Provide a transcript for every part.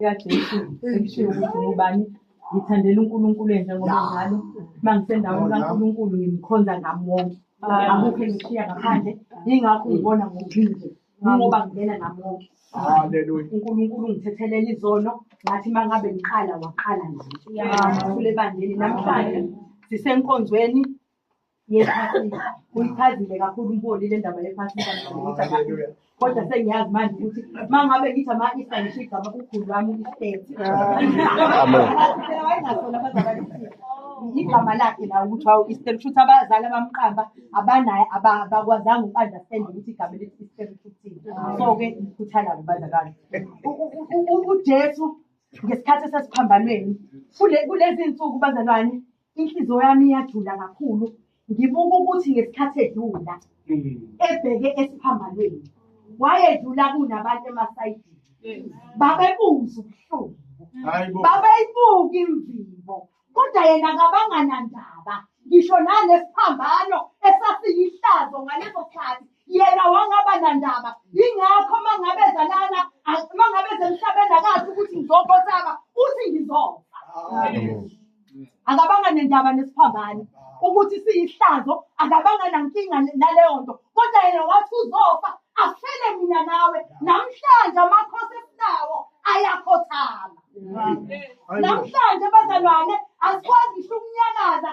likaJesu ekushiwo ukuthi ngubani ngithandela uNkulunkulu njengoba njalo uma ngisendaweni kaNkulunkulu ngimkhonza ngami wonke akukho engishiya ngaphandle yingakho ngibona ngokuphinde ngoba ngibena nami wonke Haleluya. uNkulunkulu ungithethelela izono ngathi uma ngabe ngiqala waqala nami kule bandeni namhlanje sisenkonzweni yephasika uyichazile kakhulu umboni le ndaba yephasika kodwa sengiyazi manje ukuthi uma ngabe ngithi ama-isa ngisho igama kukhulu lwami uisteti wayengasona abazalwane igama lakhe la ukuthi wawu isteri futhi abazali abamqamba abanaye abakwazanga uku-understand ukuthi igama elithi isteri futhini so-ke ngikhuthala kubazakala ujesu ngesikhathi esesiphambanweni kulezi nsuku bazalwane inhliziyo yami iyajula kakhulu ngibuka ukuthi ngesikhathi edlula ebheke esiphambanweni wayedlula kunabantu emasayidini babebuza ubuhlungu babeyibuka imvimbo kodwa yena kabanganandaba ngisho nalesiphambano esasiyihlazo ngaleso khathi yena wangaba nandaba ingakho uma ngabe zalana uma ngabe zemhlabeni akazi ukuthi ngizokhothama uthi ngizofa akabanga nendaba nesiphambane ukuthi siyihlazo akabanga nankinga naleyo nto kodwa yena wathi uzofa afele mina nawe namhlanje amakhosi esinawo ayakhothama namhlanje bazalwane asikwazi ngisho ukunyakaza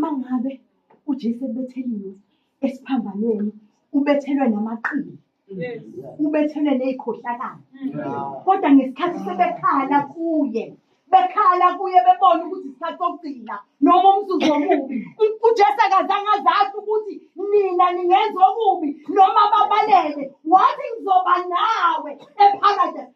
mangabe uJesu ebetheliwe esiphambanweni ubethelwe namaqili ubethelwe nezikhohlakala kodwa ngesikhathi sebekhala kuye bekhala kuye bebona ukuthi isikhathi sokugcina noma umzuzu omubi ujesu akazange azazi ukuthi nina ningenza okubi noma babalele wathi ngizoba nawe epharadesi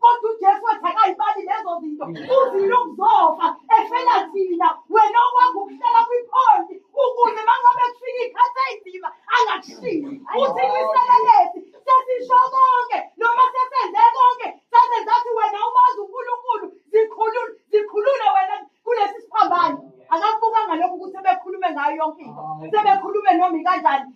kodwa ujesu wathi akayibali lezo zinto uzile ukuzofa efela thina wena okwakho ukuhlala kwiphondi ukuze mangabe kufika ikhathi ayinzima angakushili uthi liselelesi sesisho konke noma sesenze konke sasenza ukuthi wena umazi unkulunkulu zikhulule wena kulesi siphambane akakubukanga lokhu ukuthi sebekhulume ngayo yonke into sebekhulume noma ikanjani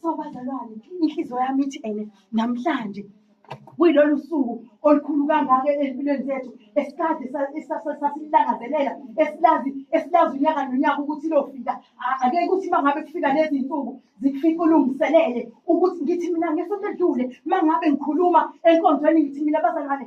So bazalwane, inhliziyo yami ithi ene namhlanje kuyilolu suku olukhulu kangaka ezimpilweni zethu esikade sasilangazelela esilazi esilazi unyaka nonyaka ukuthi lofika ake ukuthi uma ngabe kufika lezi nsuku zikufika ulungiselele ukuthi ngithi mina ngesonto edlule uma ngabe ngikhuluma enkonzweni ngithi mina bazalwane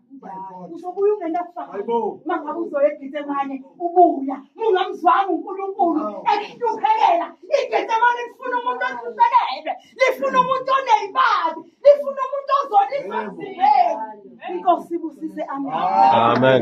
uzobuya ungenakufakazi uma ngabe uzoya egetsemane ubuya mungamzwanga unkulunkulu ekuhluphekela igetsemane lifuna umuntu ohluphekele lifuna umuntu oneyimali lifuna umuntu ozolisa emzimbeni inkosi ibusise amen